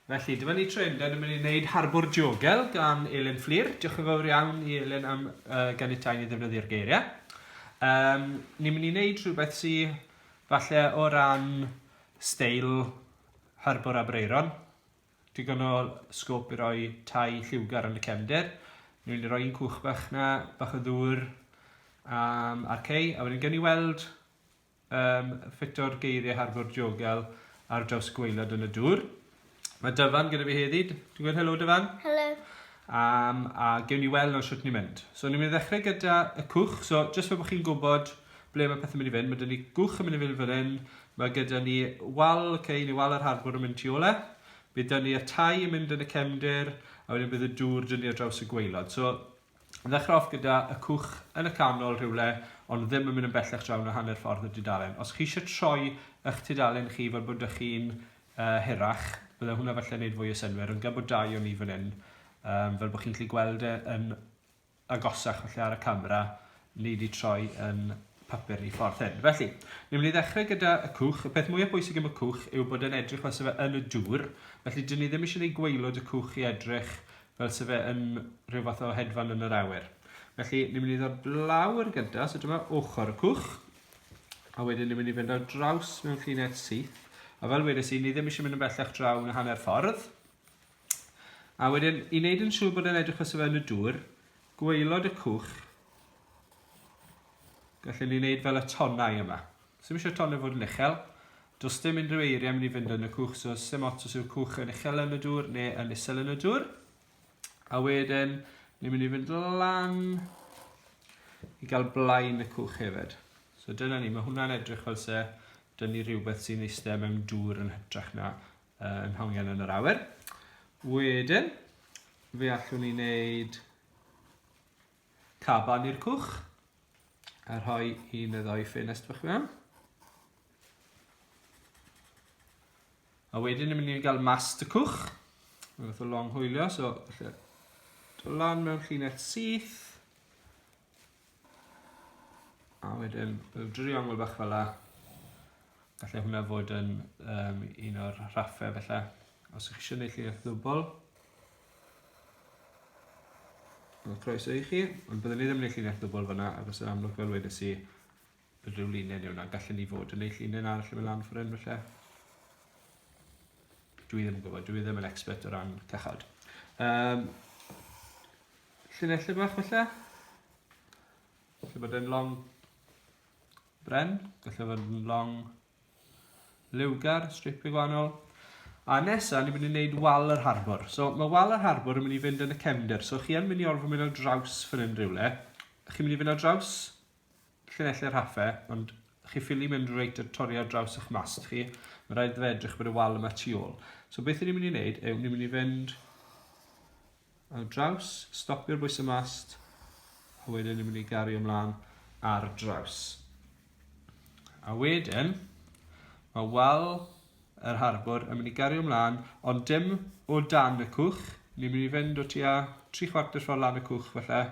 Felly, dyma ni tro hynda, ni'n mynd i wneud Harbwr Diogel gan Elin Fflir. Diolch yn fawr iawn i Elin am uh, ganiatau ni ddefnyddio'r geiriau. Um, ni'n mynd i wneud rhywbeth sy'n falle o ran steil Harbwr Abreiron. Digon o sgop i roi tai lliwgar yn y cefnder. Ni'n mynd i roi un cwch bach na, bach o ddŵr um, a'r cei, a wedyn gen i weld Yym, ffito'r geiriau harbwr diogel ar draws y gwaelod yn y dŵr. Mae Dyfan gyda fi heddi. Dwi'n gweud helo Dyfan. Helo. Um, a gewn ni weld nawr sut ni'n mynd. So ni'n mynd i ddechrau gyda y cwch. So jyst fe bod chi'n gwybod ble mae pethau'n mynd i fynd. Mae dyn ni gwch yn mynd i fynd fan hyn. Mae gyda ni wal, okay, neu wal yr harbwr yn mynd tu ole. Bydd dyn ni y tai yn mynd yn y cefndir. A wedyn bydd y dŵr dyn ni ar draws y gwaelod. So Ddechreuoch gyda y cwch yn y canol rhywle ond ddim yn mynd yn bellach draw na hanner ffordd y dudalen. Os chi eisiau troi ych tudalen chi fel bod dych chi'n uh, hirach, bydde hwnna falle wneud fwy o synwyr, ond gan bod dau o ni fan hyn, um, fel bod chi'n gallu gweld e yn agosach falle ar y camera, ni wedi troi yn papur ni ffordd hyn. Felly, ni'n mynd i ddechrau gyda y cwch. Y peth mwyaf bwysig am y cwch yw bod e'n edrych fel sef yn y dŵr, felly dyn ni ddim eisiau gwneud gweilod y cwch i edrych fel se fe yn rhyw fath o hedfan yn yr awyr. Felly, ni'n mynd i ddod lawr gyda, so dyma ochr y cwch, a wedyn ni'n mynd i fynd ar draws mewn llinell syth, a fel wedes i, ni ddim eisiau mynd yn bellach draw yn hanner ffordd. A wedyn, i wneud yn siŵr bod e'n edrych os yn y dŵr, gweilod y cwch, gallen ni wneud fel y tonnau yma. Sdim isio tonio fod yn uchel. Does dim unrhyw eiriau mynd i fynd yn y cwch, so sym ots os yw'r cwch yn uchel yn y dŵr neu yn isel yn y dŵr. A wedyn, ni'n mynd i fynd lan i gael blaen y cwch hefyd. So dyna ni, mae hwnna'n edrych fel se dyn ni rhywbeth sy'n eistedd mewn dŵr yn hytrach na uh, yn hongen yn yr awyr. Wedyn, fe allwn ni wneud Caban i'r cwch. A rhoi un neu ddau ffenest bach mewn. A wedyn ni'n mynd i gael master cwch. Mae'n fath o long hwylio, so felly dod lan mewn llinell syth. A wedyn, fel driongl bach fel la. Gallai hwnna fod yn um, un o'r rhaffau felly. Os ych chi'n gwneud llinell ddwbl, Wel, croeso i chi, ond byddwn ni ddim yn eich llinell dwbl fyna, agos yn amlwg fel wedes i, bydd rhyw linen yw na, gallen ni fod yn eich linen arall yn y lan ffryn felly. Dwi ddim yn gwybod, dwi ddim yn expert o ran cychod. Um, llinellau bach felly, lle bod e'n long bren, gallu bod yn long Liwgar, stripio gwahanol. A nesa, ni'n mynd i wneud wal yr harbwr. So, mae wal yr harbwr yn mynd i fynd yn y cefnder. So, chi yn mynd i orfod mynd ar draws fan hyn rhywle. Chi'n mynd i fynd ar draws llunelli'r haffe, ond chi ffili mynd reit a torri ar draws eich mast chi. Mae rhaid fe edrych bod y wal yma tu ôl. So, beth ni'n mynd i wneud yw ni'n mynd i fynd Ar draws, stopio'r bwys y mast, a wedyn yn mynd i gario ymlaen ar draws. A wedyn, mae wal yr harbwr yn mynd i gario ymlaen, ond dim o dan y cwch, ni'n mynd i fynd o tua tri chwarter ffordd lan y cwch falle,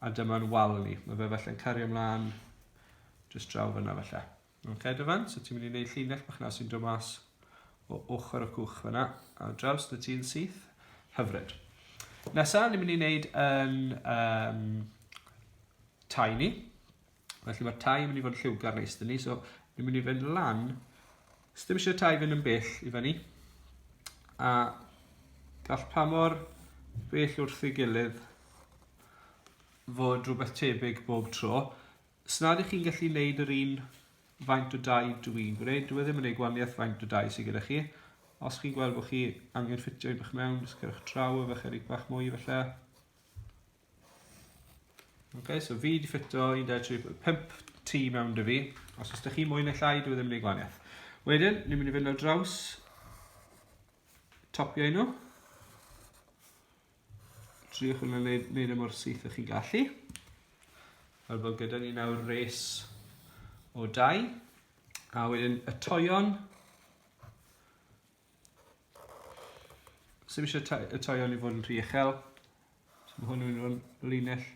a dyma'n wal ni. Mae fe falle'n cario ymlaen jyst draw fyna falle. Ok Dyfan, so ti'n mynd i wneud llinell bach na sy'n dod mas o ochr y cwch fyna, a draws dy ti'n syth. Hyfryd. Nesa, ni'n mynd i wneud yn um, tai ni. Felly mae'r tai yn mynd i fod yn lliwgar neis dyn ni, so ni'n mynd i fynd lan. Sdim eisiau tai fynd yn bell i fyny. A gall pa mor bell wrth ei gilydd fod rhywbeth tebyg bob tro. Os nad ych chi'n gallu gwneud yr un faint o dau dw i'n gwneud, dw i e ddim yn gwneud gwaniaeth faint o dau sydd gyda chi. Os chi'n gweld bod chi angen ffitio un bach mewn, jyst cerwch draw efo chydig bach mwy falle. Okay, so fi wedi ffitio 1.35 T mewn dy fi. Os ydych chi mwy neu llai, dwi e ddim yn ei gwaniaeth. Wedyn, ni'n mynd i fynd o draws topio nhw. Triwch yn ei wneud e mor syth ych chi'n gallu. Fel bod gyda ni nawr res o dau. A wedyn y toion. Sym eisiau y toion i fod yn rhy uchel. So mae hwn yn mynd o'n linell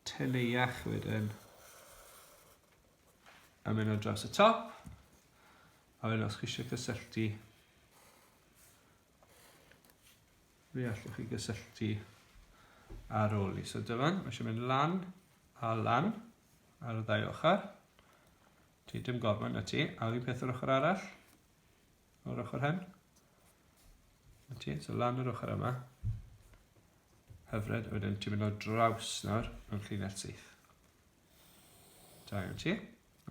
teneuach wedyn. A mynd o dros y top. A wedyn os chi eisiau cysylltu Fe allwch chi gysylltu ar ôl i. So dyfan, mae eisiau mynd lan a lan ar y ddau ochr. Ti dim gormod na ti, a fi'n peth yr ochr arall, o'r ochr hen. Na ti, so lan yr ochr yma. Hyfryd, wedyn ti'n mynd o draws nawr mewn llinell syth. Da iawn ti.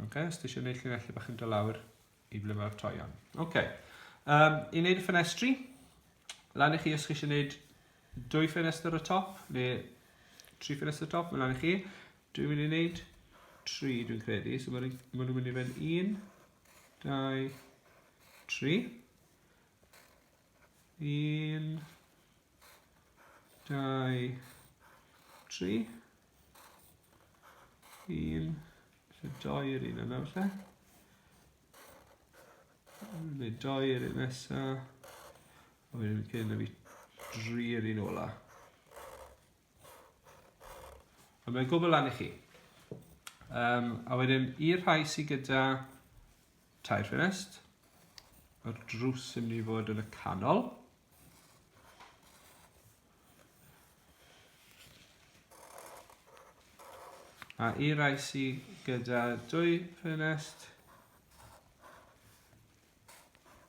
Ok, os ti eisiau gwneud llinellau bach yn dod lawr, I ble mae'r toion. Ok. Um, I wneud y ffenestri, lan i chi os chi eisiau wneud dwy ffenestr y top, neu tri ffenestr y top, mae lan i chi. Dwi'n mynd i wneud tri, dwi'n credu. So maen nhw'n mynd i fynd un, dau, tri. Un, dau, tri. Un, felly doi yr un yna felly. Neu doi yr un nesa. A wedyn cyn y fi dri yr un ola. A mae'n gwybod lan i chi. Um, a wedyn, i'r rhai sydd gyda tair ffenest, mae'r drws yn mynd i fod yn y canol. A i rai sydd gyda dwy ffenest,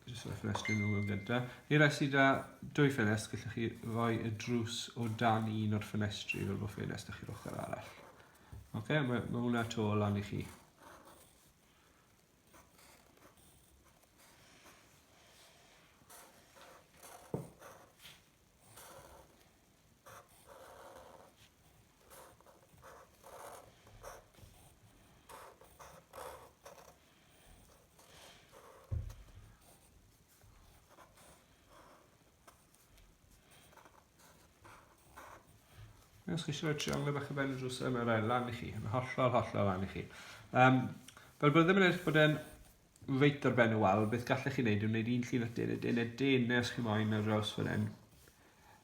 jyst rhoi ffenestri nhw yn gyda. I rai sydd â dwy ffenest, gallwch chi roi y drws o dan un o'r ffenestri fel bod ffenest chi'r ochr arall. Oce, okay, mae, mae hwnna to lan i chi. Os chi eisiau rhoi triangle bach o ben y drws yma, rhaid lan i chi, yn hollol, hollol lan i chi. Um, fel bod ddim yn edrych bod e'n reit ar ben y wal, beth gallech chi wneud yw wneud un llun at den a den a den neu os chi moyn ar draws fan hyn.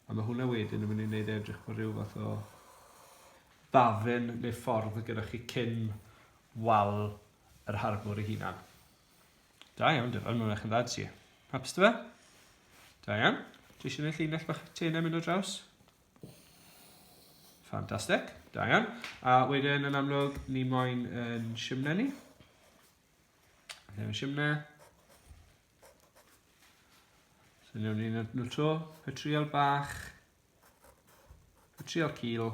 A mae hwnna wedyn yn mynd i wneud e edrych bod rhyw fath o ddafyn neu ffordd y gyda chi cyn wal yr harbwr ei hunan. Da iawn, dyfod, mae'n eich yn dda ti. Hapus dy fe? Da iawn. Dwi eisiau gwneud llinell bach tenau mynd o draws. Ffantastig, da iawn. A wedyn yn amlwg, ni moyn yn simnau ni. Ddim simne. So newn ni nhw to. Petriol bach. Petriol cil.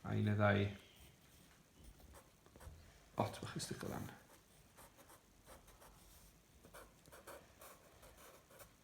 A un y ddau. Bot bach i sticio lan.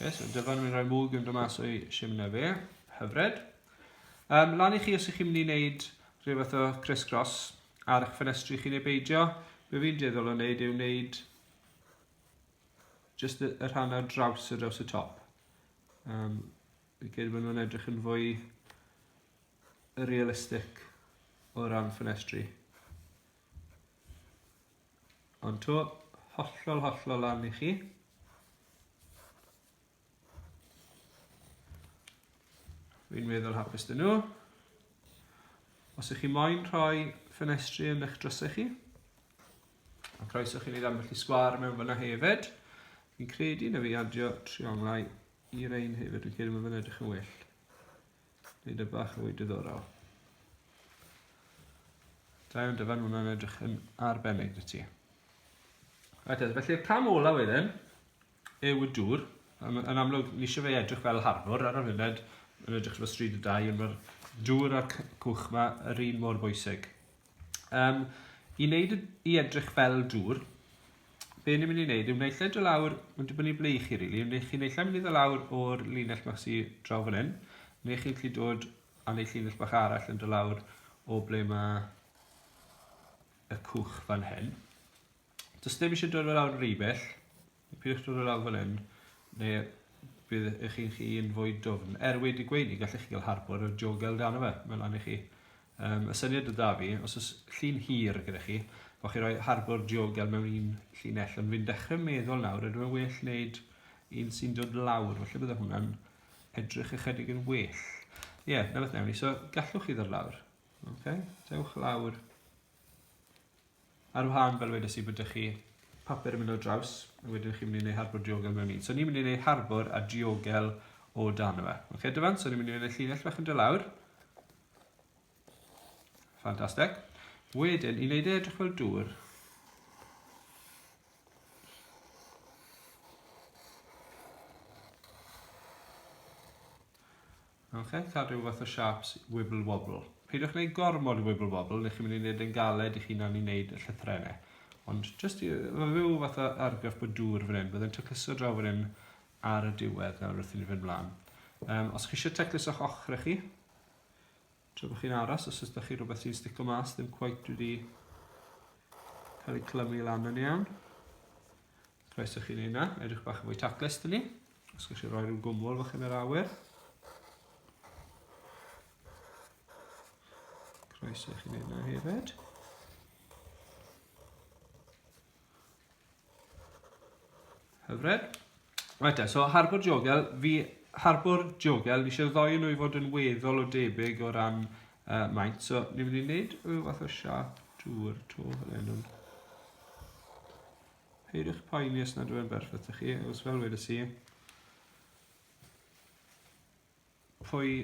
Ie, so dyfan yn mynd i roi mwg yn dod mas o'i simna fe. Hyfryd. Um, lan i chi os ych chi'n mynd i wneud rhyw fath o criss-cross ar eich ffenestri chi neu beidio. Be fi'n dueddol o wneud yw wneud just y, y rhan ar draws y draws y top. Um, I gyd bod nhw'n edrych yn fwy realistic o ran ffenestri. Ond to, hollol, hollol lan i chi. Fi'n meddwl hapus dyn nhw. Os ych chi moyn rhoi ffenestri yn eich drysau chi, a croeso chi'n ei ddambell i sgwar mewn fyna hefyd, fi'n credu na fi adio trionglau i'r ein hefyd, fi'n credu mae fyna edrych yn well. Dyna bach fwy diddorol. Da iawn dyfan, hwnna'n edrych yn arbennig dy ti. Right, felly'r cam olaf wedyn yw y dŵr. Yn amlwg, ni eisiau fe edrych fel harbwr ar y funud, yn edrych fel stryd y dau, ond mae'r dŵr a'r cwch yma yr un mor bwysig. Um, I wneud i edrych fel dŵr, be ni'n mynd i wneud yw wneud lle do lawr, mae'n dibynnu ble i chi rili, really. chi'n wneud lle mynd i do lawr o'r linell bach sy'n draw fan hyn, neu chi'n gallu dod a wneud linell bach arall yn do lawr o ble mae y cwch fan hyn. Does dim eisiau dod fel awr yn rhywbeth. Pidwch dod fel awr fan hyn. Neu bydd eich chi'n chi yn fwy dwfn. Er wedi gweini, gallech chi gael harbwr o jogel dan o fe. Mae'n lan i chi. Um, y syniad o da fi, os oes llun hir gyda chi, bod chi roi harbwr jogel mewn un llinell. Ond fi'n dechrau meddwl nawr, ydw yn well wneud un sy'n dod lawr. Felly bydde hwnna'n edrych ychydig yn well. Ie, yeah, na beth newn ni. So, gallwch chi ddod lawr. Okay? Dewch lawr Ar wahân, fel wedes i, bod ydych chi papur yn mynd o draws, a wedyn chi'n mynd i wneud harbwr diogel mewn un. So ni'n mynd i wneud harbwr a diogel o dan yma. Oce, okay, dyfan, so ni'n mynd i wneud llinell fach yn dy lawr. Ffantastig. Wedyn, i wneud e edrych fel dŵr, Ok, cael rhyw fath o siâps wibble wobble. Peidiwch wneud gormod o wibble wobble, neu chi'n mynd i wneud yn galed i chi'n i wneud y llythrennau. Ond just i, mae rhyw fath o argraff bod dŵr fan hyn, byddai'n tacluso draw fan hyn ar y diwedd nawr wrth i ni fynd mlaen. Um, os chi eisiau taclus o'ch ochr chi, tra bod chi'n aros, os ydych chi rhywbeth sy'n stico mas, ddim cwaith wedi cael ei clymu lan yn iawn. Rhaid ych chi'n ei na, edrych bach yn fwy taclus dyn ni. Os gwych chi roi rhyw gwmwl fach yn yr awyr. Croeso i chi wneud yna hefyd. Hyfryd. Right, so harbwr jogel, fi harbwr jogel, fi eisiau ddoi nhw i fod yn weddol o debyg o ran uh, maint. So, ni'n mynd i wneud rhyw fath o siap drwy'r to fel enw. Peidiwch poeni os nad yw'n berffaith i chi, os fel wedes i, pwy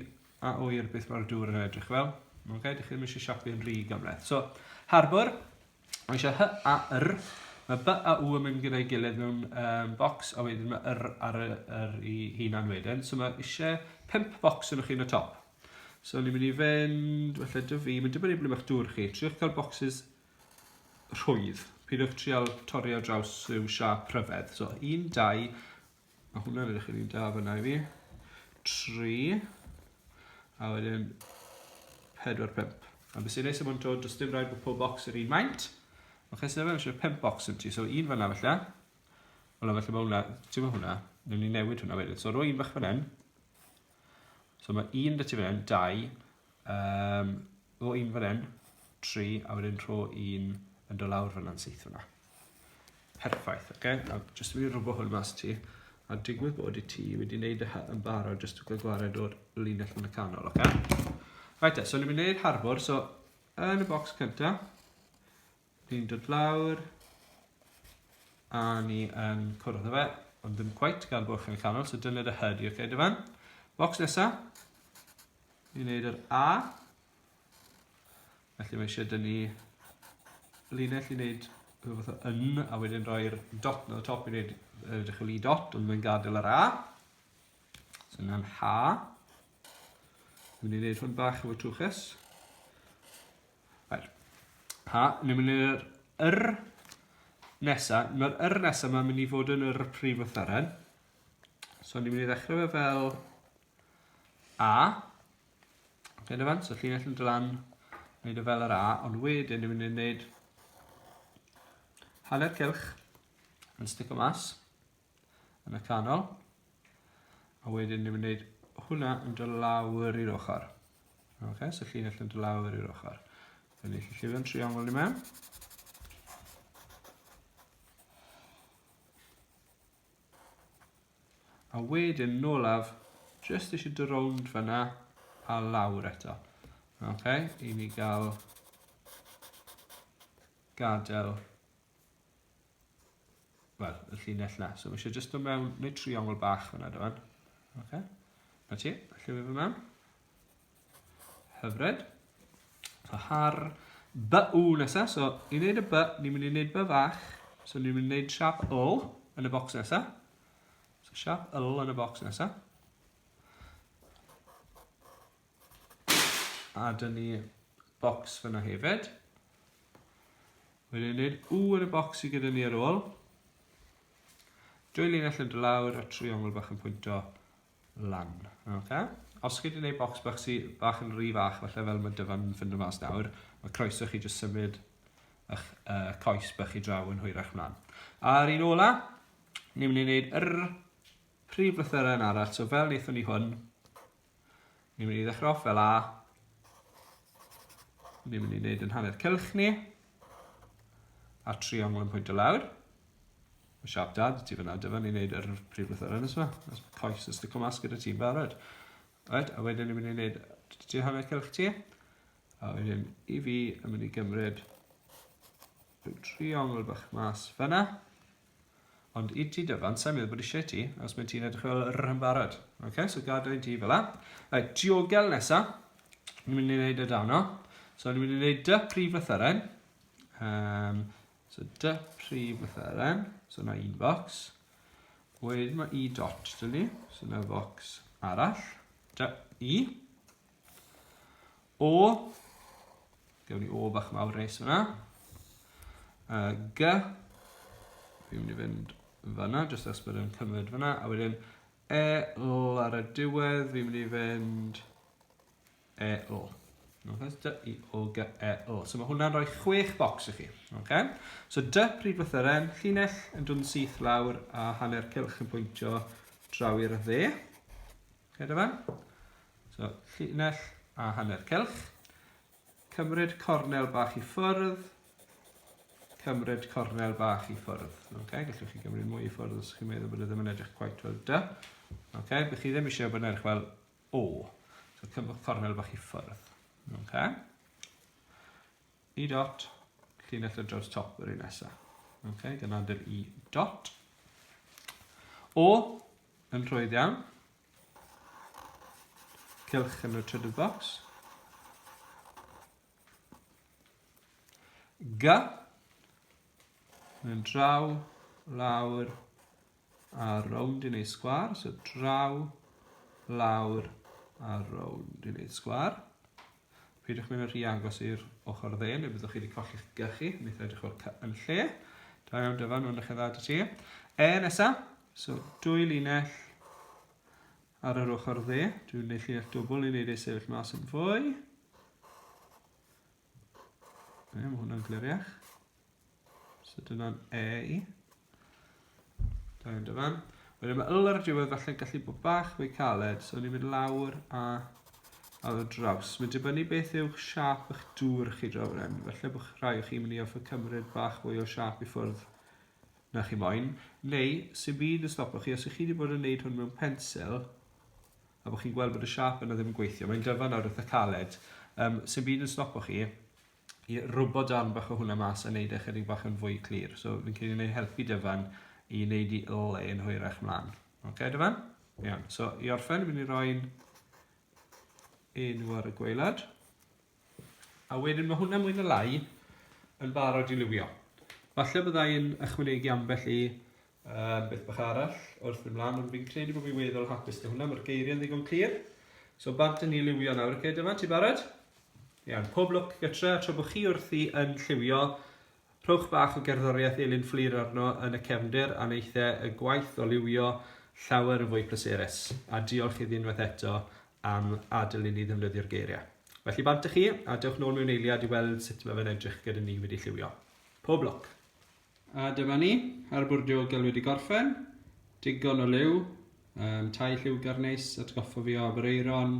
a oer beth mae'r dŵr yn edrych fel. Mae'n gael i chi ddim eisiau siapu yn rhy gymleth. So, harbwr, mae eisiau hy a yr, mae by a w yn mynd gyda'i gilydd mewn um, bocs, a wedyn mae yr ar y, yr i hunan wedyn. So mae eisiau pimp bocs yn chi'n y top. So ni'n mynd i fynd, felly dwi fi, mae'n dibynnu ble mae'ch dŵr chi. Triwch cael bocsys rhwydd. Peidiwch trial torri ar draws rhyw siap rhyfedd. So, un, dau, mae hwnna'n edrych yn un da fyna i fi. Tri, a wedyn pedwar, pimp. A beth sy'n neis am hwn to, does dim rhaid bod pob bocs yr un maint. Mae chesed efe eisiau pimp bocs yn ti, so un fyna felly. Wel, felly mae hwnna, ti'n mynd hwnna, ni'n newid hwnna wedyn. So, roi un bach fan hyn, So mae un da ti fan hyn, dau, um, o un fan hyn, tri, a wedyn rho un yn dod lawr fan hyn syth fyna. Perffaith, oce? Okay? A jyst i fi rwbo hwn mas ti, a digwydd bod i ti wedi wneud y yn barod jyst i gwared o'r linell yn y canol, oce? Okay? Right, e, so ni'n mynd i wneud harbwr, so yn y bocs cyntaf, Ni'n dod lawr a ni yn cwrdd â fe, ond ddim cweit gan bod chi'n canol, so dyna dy hyd i, oce, dy fan. Box nesa, ni'n neud yr A, felly mae eisiau dyn ni linell i neud rhywbeth o yn, a wedyn rhoi'r dot na top i neud uh, dechrau i dot, ond mae'n gadael yr A. So yna'n H. Dwi'n mynd i neud hwn bach efo twchus. Right. A ni'n mynd i'r yr nesa. Mae'r yr nesa mae'n mynd i fod yn yr prif wytheren. So ni'n mynd i ddechrau fe fel A. Dyna fan, so llinell yn dylan, wneud o fel yr A, ond wedyn ni'n mynd i wneud hanner cylch yn stico mas. yn y canol. A wedyn ni'n mynd i wneud hwnna yn dod lawr i'r ochr. Okay, so llinell yn dod lawr i'r ochr. Fe ni allu llifio'n triongl ni mewn. A wedyn nolaf, just eisiau dy rownd fyna a lawr eto. Ok, i ni gael gadael Wel, y llinell na. So mae eisiau jyst dod mewn, neu triongl bach fyna dyma. Okay. Na ti, allai fe fy mewn. Hyfryd. So har by u nesaf. So ni'n neud y by, ni'n mynd i neud by fach. So ni'n mynd i neud siap ol yn y bocs nesaf. So siap ol yn y bocs nesaf. A dyn ni bocs fyna hefyd. Wedyn ni'n u yn y bocs sydd gyda ni ar ôl. Dwy linell yn dy lawr a triongl bach yn pwynto lan. Okay. Os chi wedi gwneud bocs bach sydd bach yn rhy fach, felly fel mae dyfan yn ffindo mas nawr, mae croeso chi jyst symud eich uh, coes bach i draw yn hwyrach mlaen. A'r un ola, ni'n mynd i wneud yr prif lythyrau yn arall, so fel wnaethon ni hwn, Ni'n mynd i ddechrau off fel A. Ni'n mynd i wneud yn hanner cylch ni. A triongl yn pwynt o lawr. Mae siap da, dy ti fyna, dy fan ni'n wneud yr prif lythyr yn yma. Os mae coes yn stico mas gyda ti'n barod. Right, a wedyn ni'n mynd i wneud ti hanner cylch ti. A wedyn i fi yn mynd i gymryd rhyw triongl bach mas fyna. Ond i ti dyfan, sa'n meddwl bod eisiau ti, os mae ti'n edrych fel yr yn barod. Ok, so gadael ti fel la. Right, diogel nesa. Ni'n mynd i wneud y dano. So ni'n mynd i wneud dy prif lythyren. Um, so dy prif lythyren. So na un box. Wedyn mae i dot dyna ni. So na box arall. Dy i. O, gewn ni O bach mawr reis fyna. Uh, G, fi'n mynd i fynd fyna, jyst as bod yn cymryd fyna, a wedyn E, L ar y diwedd, fi'n mynd i fynd E, L. Okay, so D, E, O, G, E, L. So mae hwnna'n rhoi chwech bocs i chi. Okay? So D, pryd fath yr en, llinell yn dod yn syth lawr a hanner cilch yn pwyntio draw i'r dde. Gyda fan. So, llinell a hanner celch. Cymryd cornel bach i ffwrdd. Cymryd cornel bach i ffwrdd. Okay, gallwch chi gymryd mwy i ffwrdd os chi'n meddwl bod e ddim yn edrych quite fel dy. Okay, bych chi ddim eisiau bod yn edrych fel o. So, cymryd cornel bach i ffwrdd. Okay. I dot, llinell o draw'r top yr un nesaf. Okay, dyna dy'r i dot. O, Yn rhwydd iawn. Cylch yn y trydydd bocs. G. Yn draw, lawr, a rownd i wneud sgwar. So draw, lawr, a rownd i wneud sgwar. Peidiwch mynd yn rhy agos i'r ochr dde, neu byddwch chi wedi colli'ch gychu, yn eitha edrych o'r cy yn lle. Da iawn dyfan, mae'n dechrau dda dy ti. E, nesa, so dwy linell ar yr ochr dde. Dwi'n gwneud llinell dwbl i wneud ei sefyll mas yn fwy. Ie, mae hwnna'n gliriach. So dyna'n A. Da iawn dyfan. Wedyn mae yl ar y diwedd falle'n gallu bod bach fwy caled, so ni'n mynd lawr a ar y draws. Mae'n dibynnu beth yw siap eich dŵr chi draw yn hyn. Felly bod rhai o chi'n mynd i offer cymryd bach fwy o siap i ffwrdd na chi moyn. Neu, sy'n byd yn stopo chi, os ych chi wedi bod yn gwneud hwn mewn pensil, a bod chi'n gweld bod y siap yna ddim yn gweithio, mae'n dyfan nawr eitha caled, um, sy'n byd yn stopo chi, i rwbo darn bach o hwnna mas a neud e chydig bach yn fwy clir. So fi'n credu wneud helpu Dyfan i wneud i le yn hwyrach mlaen. Oce, okay, Dyfan? Iawn, so i orffen, fi'n mynd i roi'n enw ar y gweilad. A wedyn mae hwnna mwy na lai yn barod i liwio. Falle byddai'n ychwanegu ambell i Yym, beth bach arall, wrth mynd mlaen, ond fi'n credu bod fi weddol hapus gyda hwnna, mae'r geiriau'n ddigon clir. So, bant yn ni liwio nawr, oce, dyma, ti barod? Iawn, pob lwc gytre, a tra bod chi wrthi yn lliwio, rhowch bach o gerddoriaeth Elin Fflur arno yn y cefndir a neithe y gwaith o liwio llawer yn fwy pleserus. A diolch iddi unwaith eto am adael i ni ddefnyddio'r geiriau. Felly bant â chi, a dewch nôl mewn eiliad i weld sut mae fe'n edrych gyda ni wedi lliwio. Pob lwc! A dyma ni, harbwr diogel wedi gorffen, digon o liw, um, tai lliwgar neis, atgoffa fi o Aberaeron,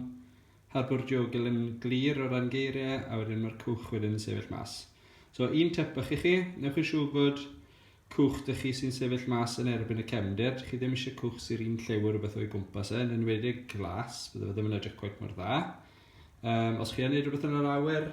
harbwr diogel yn glir o ran geiriau, a wedyn mae'r cwch wedyn yn sefyll mas. So un tip bach i chi, newch yn siŵr bod cwch dych chi sy'n sefyll mas yn erbyn y cefndir, chi ddim eisiau cwch sy'r un lliw o rhywbeth o'i gwmpas e, yn enwedig glas, bydde fe ddim yn edrych cweit mor dda. Um, os chi yn neud rhywbeth yn yr awyr,